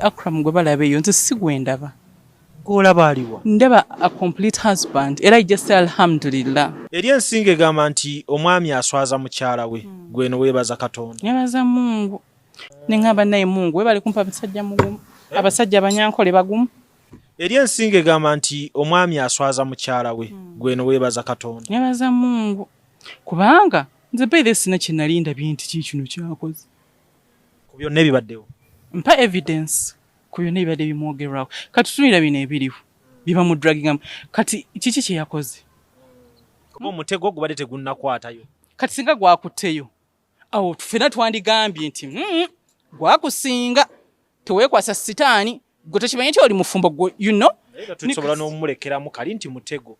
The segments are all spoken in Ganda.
Akram gwe balaba eyo nze si gwe ndaba. Gw'olaba aliwa? Ndaba a complete husband era ijja say alhamdulillah. Eri ensinga egamba nti omwami aswaza mukyala we hmm. gwe no weebaza Katonda. Nebaza Mungu ne ngamba naye Mungu webale kumpa abasajja mugumu eh? abasajja abanyankole bagumu. Eri ensinga egamba nti omwami aswaza mukyala we hmm. gwe no weebaza Katonda. Nebaza Mungu kubanga nze beere sina kye nalinda binti kikino kyakoze. ku byonna ebibaddewo mpa evidence ku byonna ebibadde bimwogerwako kati tutunira bino ebiriwo bibamudragingamu kati kiki kyeyakoze kuba omutego gubadde tegunnakwatayo kati singa gwakutteyo awo fena twandigambye nti hmm, gwakusinga tewekwasa sitaani gwe tekimanye nti oli mufumbo gwe you know tusobola n'omulekeramu kali nti mutego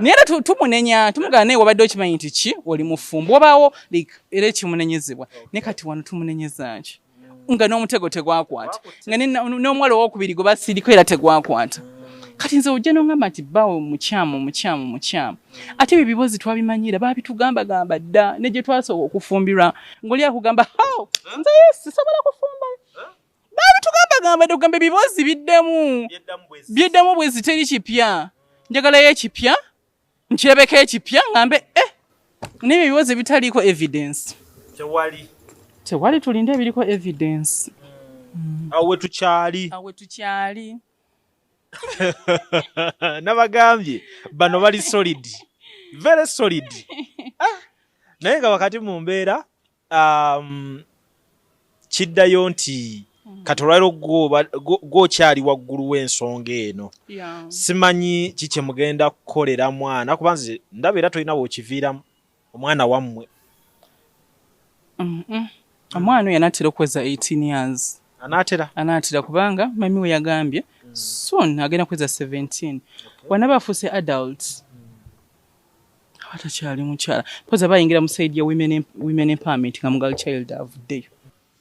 naye era tumunenya tumugana naye wabadde okimanyi nti ki oli mufumbo wabaawo era ekimunenyezebwa ne kati wano tumunenyeza nki nga n'omutego tegwakwata nga n'omuwala owokubiri gwe basiriko era tegwakwata kati nze ojja nongamba nti bawo mukyamu mukyamu mukyamu ate ebyo bibozi twabimanyira babitugambagamba dda ne gye twasooka okufumbirwa ngaoli akugamba nze sisobola kufumba baabitugambagamba tugamba ebiboozi biddemu biddemu bwezi teri kipya njagalayo ekipya nkyebeko ekipya ngambe eh naye ebiboozi ebitaliiko evidence tewali tewali tulinde ebiriko evidence hmm. awo wetukyali awo wetukyali nabagambye bano bali solid very solid ah. naye nga wakati mu mbeera um, kiddayo nti mm. kati olwaliro gwokyali waggulu w'ensonga eno yeah. simanyi ki kye mugenda kukolera mwana kuba nze ndaba era tolina weokiviiramu omwana wammwe mm -mm. omwana oyo anaatera okuweza 18 years anaatera anaatera kubanga mami we yagambye mm. soon agenda kuweza 17 okay. wanaba afuuse adult mm. abatakyali mukyala poza bayingira mu saidi ya women empowerment nga mugal child avuddeyo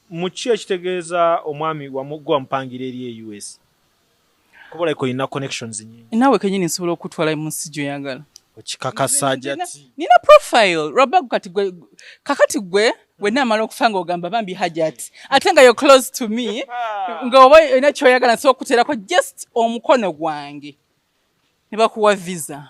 muki ekitegeeza omwami gwe wamupangira eri e us kuba like olina connections nyingi naawe kenyini nsobola okutwala mu nsi gyoyagala okikakasa jati nina profile lwabagu kati gwe kakati gwe wenna amala okufa nga ogamba bambi hajat ate nga yo close to me nga oba olina kyoyagala nsobola okukuteerako just omukono gwange ne bakuwa visa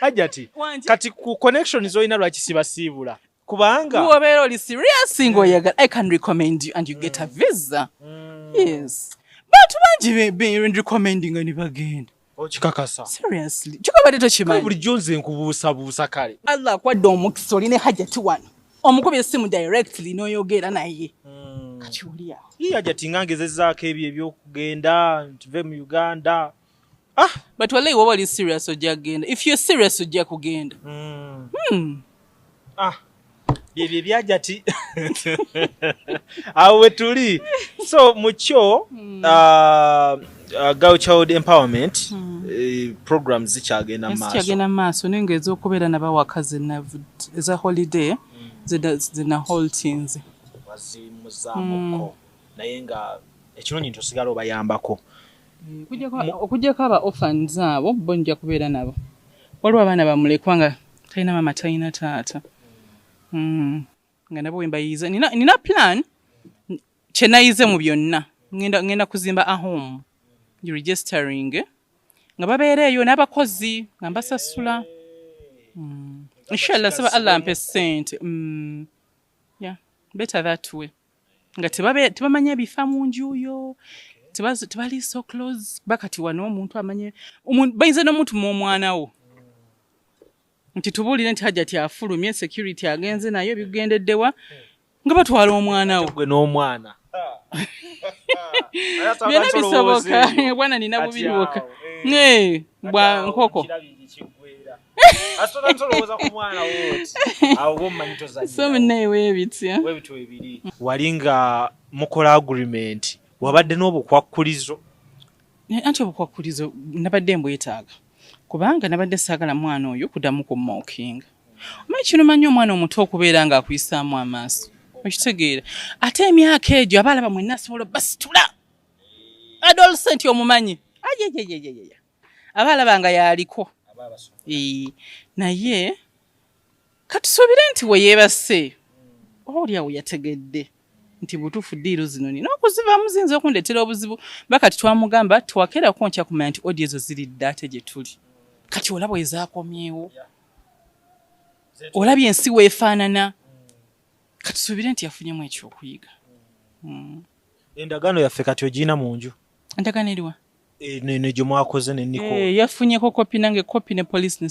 ajati kati ku connection zoyina lwaki sibasiibula kubanga wobeera oli serious singa oyagala i can recommend you and you get a mm. visa mm. yes bantu bangi berecommending ni bagenda okikakasa seriously kikabadde tokimanyi bulijjo nze nkubuusabuusa kale allah akwadde omukisa oli ne hajati wano omukuba esimu directly n'oyogera naye mm. kati oli awo ye hajati nga ngezezaako ebyo ebyokugenda ntuve mu uganda Ah, but wallahi woba oli serious ojja kugenda. If you're serious ojja kugenda. Mm. Hmm. Ah. Byebye byajati. Awo wetuli. So mucho mm. uh, uh, girl child empowerment mm. uh, programs zikyagenda maaso. Zikyagenda maaso ninga ezokubeera na bawakazi na eza holiday mm. zina, zina whole teens. Wazimuzamuko. Mm. Naye nga ekirungi nti osigala obayambako. okujjako aba orphans abo bo nja kubeera nabo waliwo abaana bamulekwa nga talina maama talina taata hmm. nga nabo wembayiiza nina plan kyenayize mu byonna ngenda kuzimba ahome registering nga babeereeyo n'abakozi nga mbasasula hmm. inshallah saba allah mpe sente hmm. better that way nga tebamanya bifa mu njuyo tebali so close kuba kati wano omuntu amanye bayinza n'omuntu mu omwana wo nti tubuulire nti hajjati afulumye security agenze naye bikugendeddewa nga batwala omwana wo gwe n'omwana byonna bisoboka bwana nina bubi bwoka eh. bwa nkoko wali nga mukola agreement wabadde n'obukwakkulizo eh, anti obukwakkulizo nabadde mbwetaaga kubanga nabadde saagala mwana oyo kudamu kummokinga omanyi kino manyi omwana omuto okubeera ng'akuyisaamu amaaso okitegeera ate emyaka egyo abaala bamwe nasobola basitula adolescent omumanyi ajejejejejeja aba alaba nga yaaliko naye katusuubire nti we yeebase oba oli awo yategedde nti butuufu diiru zino nina okuzivaamu ziyinza okundeetera obuzibu ba kati twamugamba tewakeerako ntya kumanya nti odi ezo ziri dda ate gye tuli kati olaba ezakomyewo olabye ensi weefaanana katusuubire nti yafunyemu ekyokuyiga hmm. endagaano yaffe kati ogiyina mu nju endagaano eriwa eh, eno gye mwakoze ne niko eh, yafunyeko kopi nange kopi ne police ne